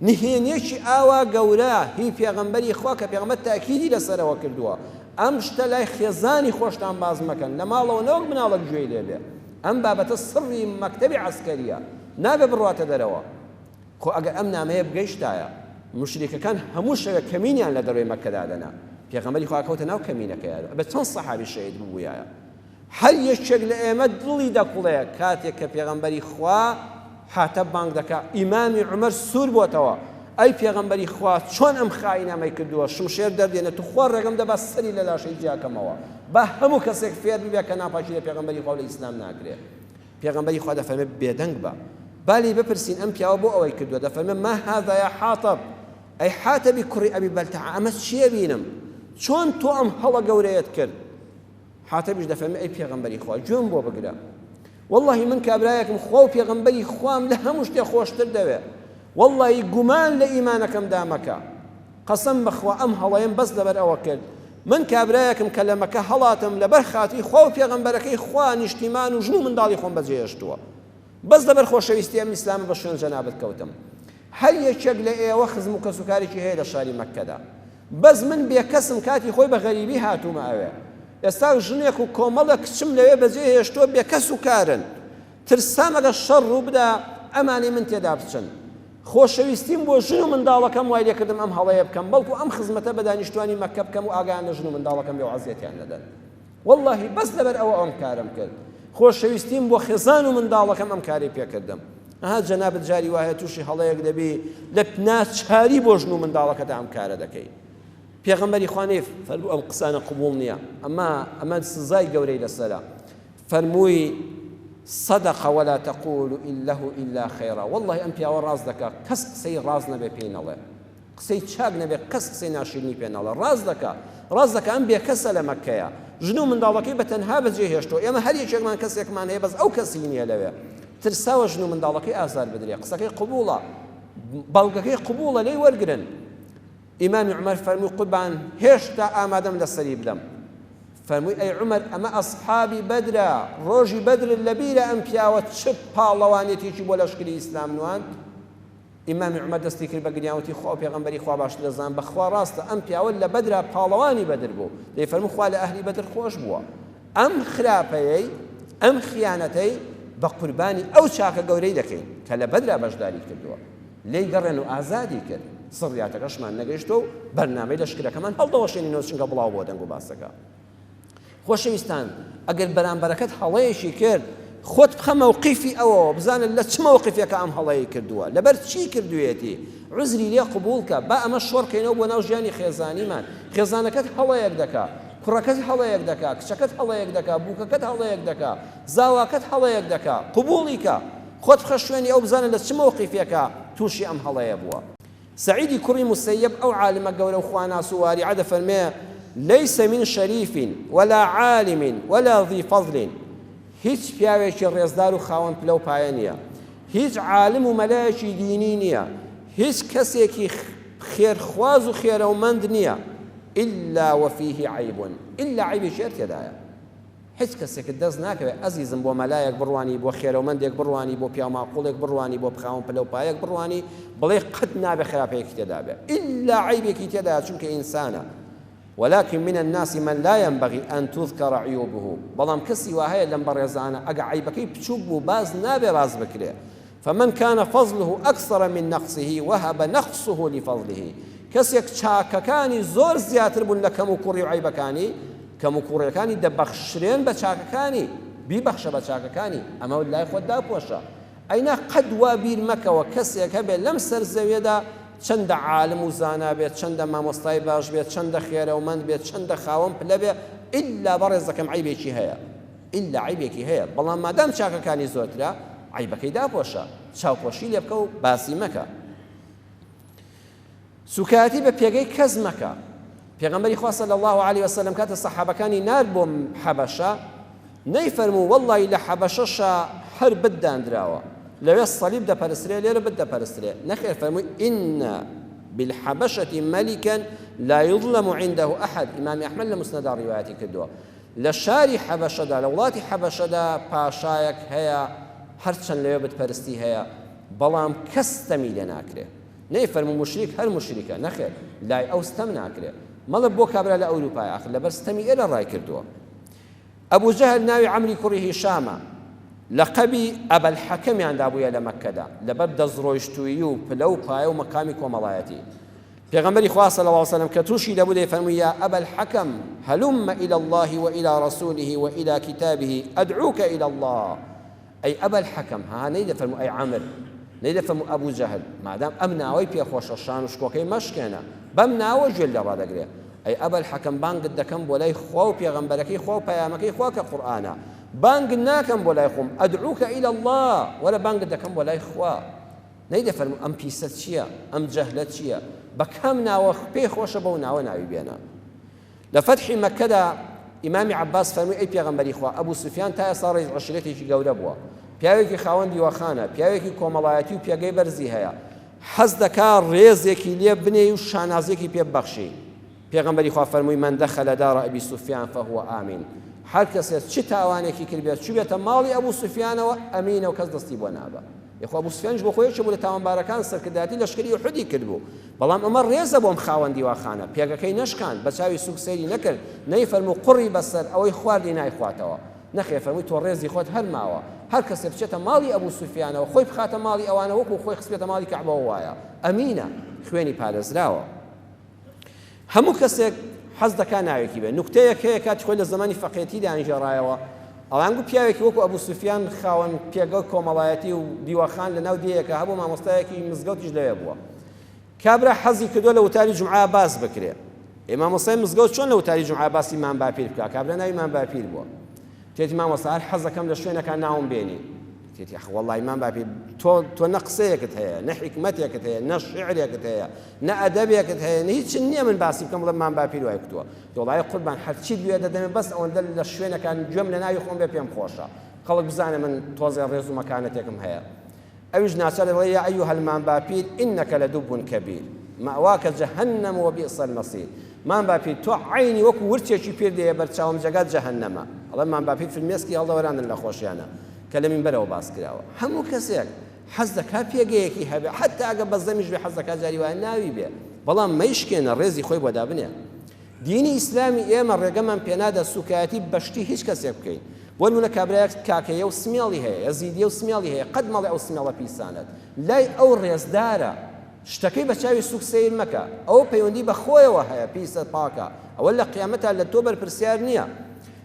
نهێنیەکی ئاوا گەورە هی پێغەمبەری خوا کە پێغەمبەر تاکیدی لەسەرەوە کردووە، ئەم شتە لای خێزانی خۆشتان باس مەکەن، لە ماڵەوە نەوەک مناڵەک گوێی لێ بێ، ئەم بابەتە سڕی مەکتەبی عەسکەریە، نابێ بڕواتە دەرەوە، خۆ ئەگەر ئەم نامەیە بگەیشتایە موشریکەکان هەموو شەوێک کەمینیان لە دەرەوەی مەککە دادەنا، پێغەمبەری خوا ئەکەوتە ناو کەمینەکەیا، ئەبێ چەند سەحابی شەهید ببوویایە. هەر یەکێک لە ئێمە دڵی دەکوڵێ کاتێک کە پێغەمبەری خوا، حاتەب، بانگ دەکا، ئیمامی عومەر سوور بۆتەوە، ئەی پێغەمبەری خوا چۆن ئەم خائینە مەی کردووە شمشێر دەردێنێ توخوا ڕێگەم دە با سەری لە لاشەی جیا کەمەوە، با هەموو کەسێک فێر ببێ کە ناپاکی لە پێغەمبەری خوا و لە ئیسلام ناکرێ. پێغەمبەری خوا دەفەرمێ، بێدەنگ بە. با لێی بپرسین ئەم پیاوە بۆ ئەوەی کردووە؟ دەفەرمێ، ما هذا یا حاطب، ئەی حاتەبی کوڕی ئەبی بەلتەعە ئەمە چییە بینم؟ چۆن تۆ ئەم هەڵە گەورەیەت کرد؟ حاتەبیش دەفەرمێ ئەی پێغەمبەری خوا گوێم بۆ بگرە وەڵڵاهی من کابرایەکم خوا و پێغەمبەری خوام لە هەموو شتێ خۆشتر دەوێ وەڵڵاهی گومان لە ئیمانەکەمدا مەکە قەسەم بەخوا ئەم هەڵەیەم بەس لەبەر ئەوە کرد من کابرایەکم کە لە مەکە هەڵاتم لەبەر خاتری خوا و پێغەمبەرەکەی خوا نیشتیمان و ژن و منداڵی خۆم بەجێهێشتووە بەس لەبەر خۆشەویستی ئەم ئیسلامە بە شوێن جەنابت کەوتم هەر یەکێک لە ئێوە خزم و کەسوکارێکی هەیە لە شاری مەککەدا بەس من بێکەسم کاتی خۆی بە غەریبی هاتوومە ئەوێ ئێستا ژنێک و کۆمەڵێک کچم لەوێ بەجێ هێشتووە بێکەس و کارن ترسام ئەگەر شەڕ ڕووبدا ئەمانەی من تێدا بچن خۆشەویستیم بۆ ژن و منداڵەکەم وای لێکردم ئەم هەڵەیە بکەم بەڵکو ئەم خزمەتە بە دانیشتوانی مەککە بکەم و ئاگایان لە ژن و منداڵەکەم بێ و عەزیەتیان نەدەن وەڵاهی بەس لەبەر ئەوە ئەم کارەم کرد خۆشەویستیم بۆ خێزان و منداڵەکەم ئەم کارەی پێکردم ئەها جەنابت جاری وایە تووشی هەڵەیەک دەبی لە ناچاری بۆ ژن و منداڵەکەدا ئەم کارە دەکەی پێغەمبەری خوانێ فەرموو ئەم قسانە قبول نییە ئەمە ئەمە سزای گەورەی لەسەرە فەرمووی صدق ولا تقول إله إلا خيرا والله أم پیاوە ڕاست دەکا کەس قسەی ڕاست نەبێ پێی نەڵێ قسەی چاک نەبێ کەس قسەی ناشیرنی پێ ناڵێ ڕاست دەکا ڕاست دەکا ئەم بێکەسە لە مەککەیە ژن و منداڵەکەی بە تەنها بەجێ هێشتوە ئێمە هەر یەکێکمان کەسێکمان هەیە بەس ئەو کەسی نیە لەوێ ترساوە ژن و منداڵەکەی ئازار بدرێ قسەکەی قبوڵە بەڵگەکەی قبوڵە لێی وەرگرن ئیمامی عمر فەرمووی قوربان هێشتا ئامادەم لەسەری بدەم فەرمووی ئەی عمر ئەمە ئەسحابی بەدرە ڕۆژی بەدر لەبیرە ئەم پیاوە چ پاڵەوانێتێکی بۆ لەشکری ئیسلام نوان ئیمامی عومەر دەستی کرد بە گریان وتی، خوا و پێغەمبەری خوا باشتر دەزانن، بەخوا ڕاستە ئەم پیاوە لە بەدرا پاڵەوانی بەدر بوو، دەیفەرموو خوا لە ئەهلی بەدر خۆش بووە، ئەم خراپەیەی، ئەم خیانەتەی بە قوربانی ئەو چاکە گەورەی دەکەین، کە لە بەدرا بەشداریت کردووە، لێی گەڕێن و ئازادی کرد، سڕیاتەکەشمان نەگەیشتووە و بەرنامەی لەشکرەکەمان هەڵدەوەشێنینەوە چونکە بڵاو بووە دەنگ و باسەکە. خۆشەویستان ئەگەر بەرامبەرەکەت هەڵەیەکی کرد خۆت بخە مەوقیفی ئەوەوە بزانە لە چ مەوقیفێکە ئەم هەڵەیە کردووە لەبەر چی کردوێتی عزری لێ قبولکە با ئەمە شۆڕکەینەوە بۆ ناو ژیانی خێزانیمان خێزانەکەت هەڵەیەک دەکا کوڕەکەت هەڵەیەک دەکا کچەکەت هەڵەیەک دەکا بووکەکەت هەڵەیەک دەکا زاواکەت هەڵەیەک دەکا قبوڵیکە خۆت بخە شوێنی ئەو بزانە لە چ مەوقیفێکە تووشی ئەم هەڵەیە بووە سەعیدی کوڕی موسەیەب ئەو عالمە گەورە و خواناس و وارعە دەفەرمێ، لیس من شریف ولا عالم ولا ذی فضل هیچ پیاوێکی ڕێزدار و خاوەن پلە و پایە نیە، هیچ عالم و مەلایەکی دینی نیە، هیچ کەسێکی خێر خواز و خێرەومەند نیە، الا وفیه عیب، الا عەیبێکی هەر تێدایە. هیچ کەسێکت دەست ناکەوێت ئەزیزم بۆ مەلایەک بڕوانی بۆ خێرەومەندێک بڕوانی بۆ پیاو ماقوڵێک بڕوانی بۆ خاوەن پلە و پایەک بڕوانی بڵێ قەت نابێت خراپەیەکی تێدا بێت ئیلا عەیبێکی تێدایە چونکە ئینسانە ولکن من الناس من لا ينبغی ان تذکر عیوبه بەڵام کەسی واهەیە لەم بەڕێزانە ئەگە عەیبەکەی بچوک بوو باس نابێت ڕاست بکرێت فمن کان فضله اکثر من نقصه وهب نقصه لفضله کەسێک چاکەکانی زۆر زیاتر بوون لە کەموکوڕی و عەیبەکانی، کەموکوڕیەکانی دەبەخشرێن بە چاکەکانی، بیبەخشە بە چاکەکانی، ئەمە لای خۆت داپۆشە، ئەینا قەت وا بیر مەکەوە کەسێک هەبێت لەم سەر زەویەدا چەندە عالم و زانا بێت، چەندە مامۆستای باش بێت، چەندە خێرەومەند بێت، چەندە خاوەن پلە بێت، ئیلا بەڕێزەکەم عەیبێکی هەیە. ئیللا عەیبێکی هەیە، بەڵام مادام چاکەکانی زۆرترە، عەیبەکەی داپۆشە، چاوپۆشی لێ بکە و باسی مەکە. سووکایەتی بە پێگەی کەس مەکە. پێغەمبەری خوا صلی اللە علیه و سلم کاتێ سەحابەکانی نارد بۆ حەبەشە نەیفەرموو وەڵڵای لە حەبەشەشا هەر بت داندراوە لەوێ صلیب دەپەرسترێ لێرە بت دەپەرسترێ نەخێر فەرمووی ئین بالحبشة ملكا لا يظلم عنده أحد إمام أحمد لمسند رواياتي كدوا لە شاری حەبەشەدا، لە وڵاتی حەبەشەدا پاشایەک هەیە، هەرچەند لەوێ بت پەرستی هەیە، بەڵام کەس ستەمی لێ ناکرێ. نەیفەرموو موشریک هەر موشریکە، نەخێر، لای ئەو ستەم ناکرێ. مەڵێ بۆ کابرا لە ئەوروپایە، ئاخر لەبەر ستەمی ئێرە ڕای کردووە. ئەبو جەهل ناوی عەمری کوڕی هیشامە، لەقەبی ئەبەلحەکەمیان دابوویە لە مەککەدا، لەبەر دەستڕۆیشتوویی و پلە و پایە و مەقامی کۆمەڵایەتی. پێغەمبەری خوا صلی اللە وسلم کە توشی دەبوو دەیفەرمووی، یا ابا الحکم هلم الی اللە و الی رسوله و الی کتابه ادعوک الی اللە، ئەی ابا الحکم، هاها نەیدەفەرموو ئەی عمر، نەیدەفەرموو ابو جهل، مادام ئەم ناوەی پێ خۆشە شان و شکۆکەی مەشکێنە، بەم ناوە گوێت لێ ڕادەگرێ، ئەی ابا الحکم بانگت دەکەم بۆ لای خوا و پێغەمبەرەکەی خوا و پەیامەکەی خوا کە قورئانە، بانگت ناکەم بۆ لای خۆم، ادعوک الی اللە، وەرە بانگت دەکەم بۆ لای خوا. نەی دەفەرموو ئەم پیسە چیە ئەم جەهلە چیە بە کام ناوە پێی خۆشە بەو ناوە ناوی بێنە لە فەتحی مەکەدا ئیمامی عباس فەرمووی ئەی پێغەمبەری خوا ئەبوو سوفیان تا ئێستا ڕێز عشرێتێکی گەورە بووە پیاوێکی خاوەن دیوەخانە پیاوێکی کۆمەڵایەتی و پێگەی بەرزی هەیە حەز دەکا ڕێزێکی لێ بنێ و شانازێکی پێ بەخشی پێغەمبەری خوا فەرمووی من دەخەلە داڕە ئەبی سوفیان فهو ئامین هەر کەسێ چ تاوانێکی کردبێت چوبێتە ماڵی ئەبوو سوفیانەوە ئەمینە و کەس دەستی بۆ نابە یەخوا ابو سفیانیش بۆ خۆی یەکێ بوو لە تاوانبارەکان سەرکردایەتی لەشکری احدی کردبوو بەڵام عمر رێزە بۆم خاوەن دیواخانە پێگەکەی نەشکاند بە چاوی سوک سەیری نەکرد نەی فەرموو قوڕی بەسەر ئەوەی خواردی نایخواتەوە نەخێر فەرمووی تۆ رێزی خۆت هەر ماوە هەر کەسێ بچێتە ماڵی ابو سفیانەوە خۆی بخاتە ماڵی ئەوانە وەکو خۆی خستبێتە ماڵی کەعبەوە وایە امینە خوێنی پارێزراوە. هەموو کەسێک حەز دەکات ناوێکی بێت، نوکتەیەک هەیە کاتی خۆی لە زەمانی فەقێتی دایانگێڕایەوە، ئەڵێن گوو پیاوێکی وەکو ئەبوو سوفیان خاوەن پێگەو کۆمەڵایەتی و دیوەخان لە ناو دێیەکا هەبوو مامۆستایەکی مزگەوتیش لەوێ بووە کابرا حەزی کردووە لە وتاری جومعە باس بکرێ ئێ مامۆستای مزگەوت چۆن لە وتاری جومعە باسی مام باپیر بکا کابرا ناوی مام باپیر بووە تێتی مامۆستا هەر حەزەکەم لە شوێنەکا ناوم بێنی تێتی ئەخ وەڵڵای مام باپیر تۆ تۆ نە قسەیەکت هەیە نە حیکمەتێکت هەیە نە شیعرێکت هەیە نە ئەدەبێکت هەیە نە هیچ نییە من باسی بکەم بڵێم مام باپیر وای کوتووە دۆڵای قوربان هەرچیت بوێ دەدەمێ بەس ئەوەندە لە شوێنەکان گوێم لە ناوی خۆم بێ پێم خۆشە خەڵک بزانێ من تۆزێ ڕێز و مەکانەتێکم هەیە ئەویش ناچار دەڵێ یا ئەیوهە المام باپیر ئینەکە لە دوبون کەبیر مەواکە جەهەنەم و بیئس المەصیر مام باپیر تۆ عینی وەکو ورچێکی پیر دێ بەرچاوم جێگات جەهەنەمە ئەڵێ مام باپیر فرمێسکی هەڵدەوەراندن لە خۆشیانە کە لە مینبەرەوە باس کراوە هەموو کەسێک حەز دەکات پێگەیەکی هەبێت حەتا ئەگەر بەزەمیش بێت حەز دەکات جاری وایە ناوی بێت بەڵام مەیشکێنە ڕێزی خۆی بۆ دابنێ دینی ئیسلامی ئێمە ڕێگەمان پێنادا سوکایەتی بەشتی هیچ کەسێک بکەین بۆ نمونە کابرایەک کاکەیە و سمێڵی هەیە یەزیدیە و سمێڵی هەیە قەت مەڵێ ئەو سمێڵە پیسانەت لای ئەو ڕێزدارە شتەکەی بە چاوی سوک سیر مەکە ئەو پەیوەندی بە خۆیەوە هەیە پیسە پاکە ئەوە لە قیامەتا لە تۆ بەرپرسیار نییە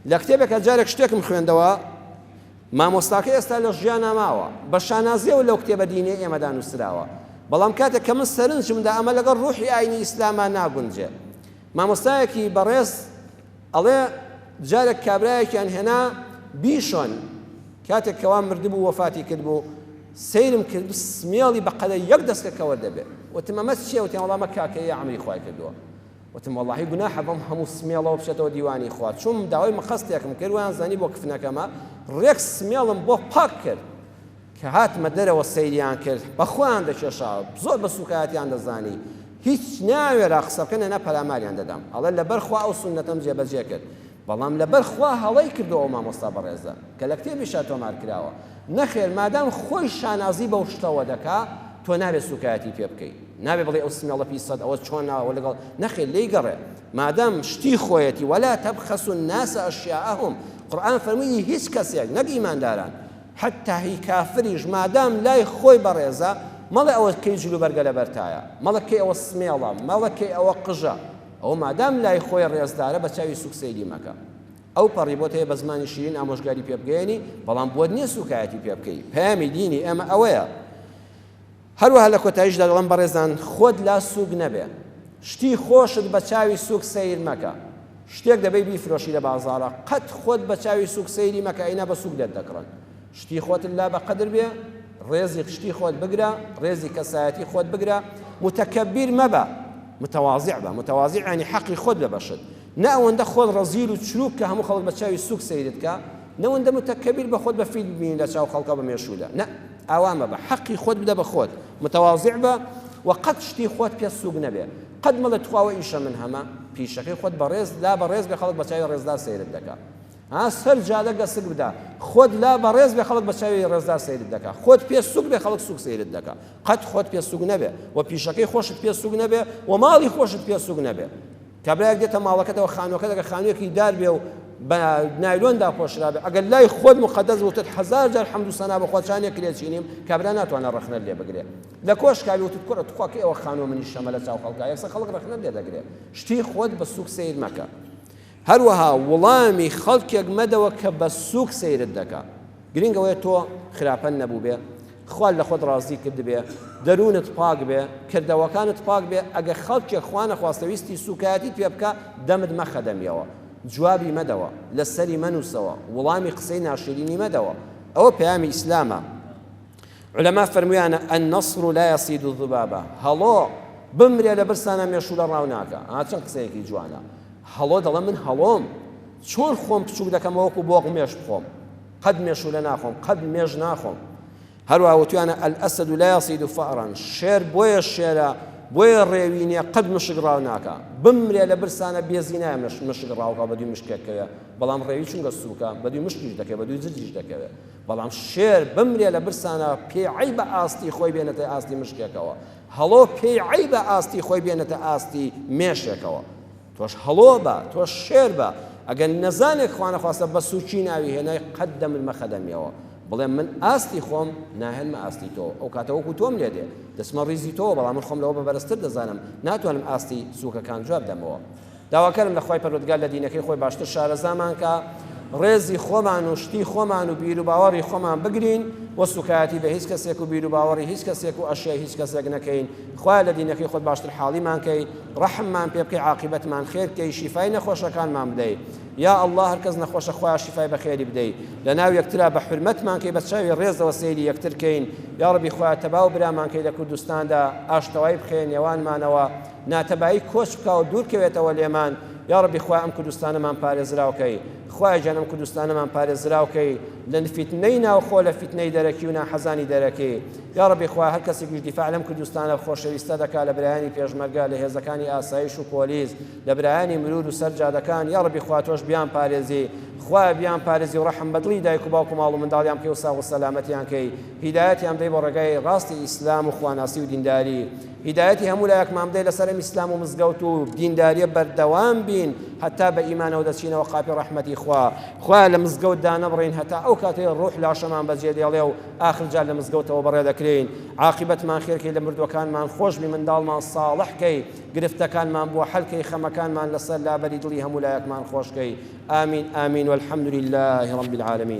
لە کتێبێکا جارێک شتێکم خوێندەوە مامۆستاکەی ئێستا لە ژیانا ماوە، بە شانازییەوە لەو کتێبە دینییەی ئێمەدا نووسراوە، بەڵام کاتێک کە من سەرنجم دا ئەمە لەگەڵ ڕووحی ئایینی ئیسلاما ناگونجێ. مامۆستایەکی بەڕێز ئەڵێ جارێک کابرایەکیان هێنا بیشۆن، کاتێک کە وا مردبوو وەفاتی کردبوو، سەیرم کرد سمێڵی بە قەدەر یەک دەسکە کەوە دەبێ. وتم ئەمە چییە؟ وتیان وەڵا ئەمە کاکەییە عەمری خوای کردووە. وتم وەڵاهی گوناحە بەم هەموو سمێڵەوە بچێتەوە دیوانی خوا، چووم داوای مقەستێکم کرد وایان زانی بۆ کفنەکەمە، ڕێک سمێڵم بۆ پاک کرد، کە هاتمە دەرەوە سەیریان کرد بە خۆیان دەکێشاوە، زۆر بە سووکایەتیان دەزانی، هیچ نایانوێرا قسە بکەن ئەنا پەلاماریان دەدام، ئەڵێ لەبەر خوا ئەو سوننەتەم جێبەجێ کرد. بەڵام لەبەر خوا هەڵەی کردووە ئەو مامۆستا بەڕێزە کە لە کتێبیشا تۆمار کراوە. نەخێر مادام خۆی شانازی بەو شتەوە دەکا تۆ نابێ سووکایەتی پێ بکەی. نابێ بڵێی ئەو سمێڵە پیسەت ئەوە چۆن ناوە ئەوە لەگەڵ نەخێر لێی گەڕێ مادام شتی خۆیەتی ولا تبخسوا الناس اشیاءهم قورئان فەرمووی هیچ کەسێک نەک ئیمانداران حەتتا هی کافریش مادام لای خۆی بەڕێزە مەڵێ ئەوە کەی جلوبەرگە لەبەرتایە مەڵێ کەی ئەوە سمێڵە مەڵێ کەی ئەوە قژە ئەوە مادام لای خۆی ڕێزدارە بە چاوی سووک سەیری مەکە. ئەو پەڕی بۆت هەیە بە زمانی شیرین ئامۆژگاری پێ بگەیەنی، بەڵام بۆت نییە سووکایەتی پێ بکەی. پەیامی دینی ئێمە ئەوەیە. هەروەها لە کۆتاییشدا دەڵێم بەڕێزان خۆت لا سووک نەبێ. شتی خۆشت بە چاوی سووک سەیر مەکە. شتێک دەبەی بیفرۆشی لە بازاڕا، قەت خۆت بە چاوی سووک سەیری مەکە ئەینا بە سووک دەتدەکڕن. شتی خۆتت لا بە قەدر بێ، ڕێزی شتی خۆت بگرە، ڕێزی کەسایەتی خۆت بگرە، متەکەبیر مەبە، متواضع بە، متواضع یانی حەقی خۆت بە بەشت، نە ئەوەندە خۆت ڕەزیل و چرووک کە هەموو خەڵک بە چاوی سووک سەیرت کا، نەوەندە متەکەبیر بە خۆت بە فیت ببینی لە چاو خەڵکا بە مێشوودا، نە، ئاوا مەبە، حەقی خۆت بدە بە خۆت، متواضع بە و قەت شتی خۆت پێ سووک نەبێ، قەت مەڵێ تخوا وە ئیشە من هەمە، پیشەکەی خۆت بەڕێز لا بە ڕێز بێ خەڵک بە چاوی ڕێزدار سەیرت دەکا. ها سەر جادە گەسک بدە خۆت لا بەڕێز بێ خەڵک بە چاوی ڕێزدار سەیرت دەکا خۆت پێ سوک بێ خەڵک سوک سەیرت دەکا قەت خۆت پێ سوک نەبێ و پیشەکەی خۆشت پێ سوک نەبێ و ماڵی خۆشت پێ سوک نەبێ کابراەک دێتە ماڵەکەتەوە خانوەکە دەگە خانوێکی دار بێ و بە نایلۆندا خۆشرابێ ئەگەر لای خۆت مقدەس وتت هزار جار حەمد و سەنا بە خۆچانێ کرێچینیم کابرا ناتوانە ڕخنە لێ بگرێ لە کۆشکاوی وتت کوڕە توخواکە ئەوە خانوە منی شەمە لە چاو خەڵکە یەکسە خەڵک ڕخنە لێ دەگرێ شتی خۆت بە سوک سیر مەکە هەروەها وڵامی خەڵکێک مەدەوە کە بە سووک سەیرت دەکا. گرینگ ئەوەیە تۆ خراپەت نەبووبێ، خوا لە خۆت ڕازی کردبێ، دەروونت پاک بێ، کردەوەکانت پاک بێ، ئەگەر خەڵکێک خوا نەخواستە ویستی سووکایەتیت پێ بکا، دەمت مەخە دەمیەوە. جوابی مەدەوە. لەسەری مەنووسەوە. وڵامی قسەی ناشیرینی مەدەوە. ئەوە پەیامی ئیسلامە. عولەما فەرمویانە، النسر لا یصید الذبابە، هەڵۆ بمرێ لە برسانا مێشوولە ڕاو ناکا، ئا چەند قسەیەکی جوانە، هەڵۆ دەڵێ من هەڵۆم چۆن خۆم بچووک دەکەمەوە وەکو بۆق مێش بخۆم، قەت مێشوولە ناخۆم، قەت مێش ناخۆم. هەروەها وتویانە، الاسد لا یصید فأرا، شێر بۆیە شێرە، بۆیە ڕێوی نییە، قەت مشک ڕاو ناکا، بمرێ لە برسانا بێزی نایە مشک ڕاوکا و بەدووی مشکێک کەوێ، بەڵام ڕێوی چونکە سووکە بەدووی مشکیش دەکەوێ، بەدووی زرجیش دەکەوێ. بەڵام شێر بمرێ لە برسانا پێی عەیبە ئاستی خۆی بێنێتە ئاستی مشکێکەوە، هەڵۆ پێی عەیبە ئاستی خۆی بێنێتە ئاستی مێشێکەوە. تۆش هەڵۆ بە، تۆش شێر بە، ئەگەر نەزانێک خوانەخواستە بە سووکی ناوی هێنای قەت دەمرمە خەدەمیەوە، بڵێم من ئاستی خۆم ناهێنمە ئاستی تۆ، ئەو کاتە وەکوو تۆم لێ دێ، دەچمە ڕیزی تۆوە، بەڵام من خۆم لەوە بە بەرزتر دەزانم، ناتوانم ئاستی سووکەکان جواب دەمەوە. داواکارم لە خوای پەروەردگار لە دینەکەی خۆی باشتر شارەزامان کا ڕێزی خۆمان و شتی خۆمان و بیروباوەڕی خۆمان بگرین و سوکایەتی بە هیچ کەسێک و بیروباوەڕی هیچ کەسێک و ئەشیای هیچ کەسێک نەکەین خوایە لە دینەکەی خۆت باشتر حاڵیمان کەی ڕەحممان پێ بکەی عاقیبەتمان خێر کەی شیفای نەخۆشەکانمان بدەی یا اللە هەر کەس نەخۆشە خوایە شیفای بەخێری بدەی لە ناو یەکترا بە حرمەتمان کەی بە چاوی ڕێزەوە سەیری یەکتر کەین یا ڕەبی خوایە تەبا و برامان کەی لە کوردستاندا ئاشتەوای بخەیە نێوانمانەوە ناتەبایی کۆچ بکا و دوور کەوێتەوە لێمان یاڕەبی خوایە ئەم کوردستانەمان پارێزراو کەی خوایە گیان ئەم کوردستانەمان پارێزراو کەی لە فیتنەی ناوخۆ لە فیتنەی دەرەکی و ناحەزانی دەرەکی یاڕەبی خوایە هەر کەسێکیش دیفاع لەم کوردستانە خۆشەویستە دەکا لە برایانی پێشمەرگە لە هێزەکانی ئاسایش و پۆلیس لە برایانی مرور و سەر جادەکان یاڕەبی خوا تۆش بیان پارێزی خوایە بیان پارێزی و ڕەحم بە دڵی دایک و باوک و ماڵ و منداڵیان بکەی و ساغ و سەلامەتیان کەی هیدایەتیان بدەی بۆ ڕێگای ڕاستی ئیسلام و خواناسی و دینداری هیدایەتی هەموو لایەکمان بدەی لەسەر ئەم ئیسلام و مزگەوت و دینداریە بەردەوام بین هەتا بە ئیمانەوە دەچینەوە قاپی ڕەحمەتی خوا خوایە لە مزگەوت دانەبڕین هەتا ئەو کاتەی ڕوح لاشەمان بەجێ دێڵێ و ئاخر جار لە مزگەوتەوە بەڕێ دەکرێین عاقبەتمان خێرکەی لە مردوەکانمان خۆش بی منداڵمان ساڵح کەی گرفتەکانمان بۆ حەلکەی خەمەکانمان لەسەر لابەری دڵی هەموو لایەکمان خۆشکەی آمین آمین والحمد لله رب العالمین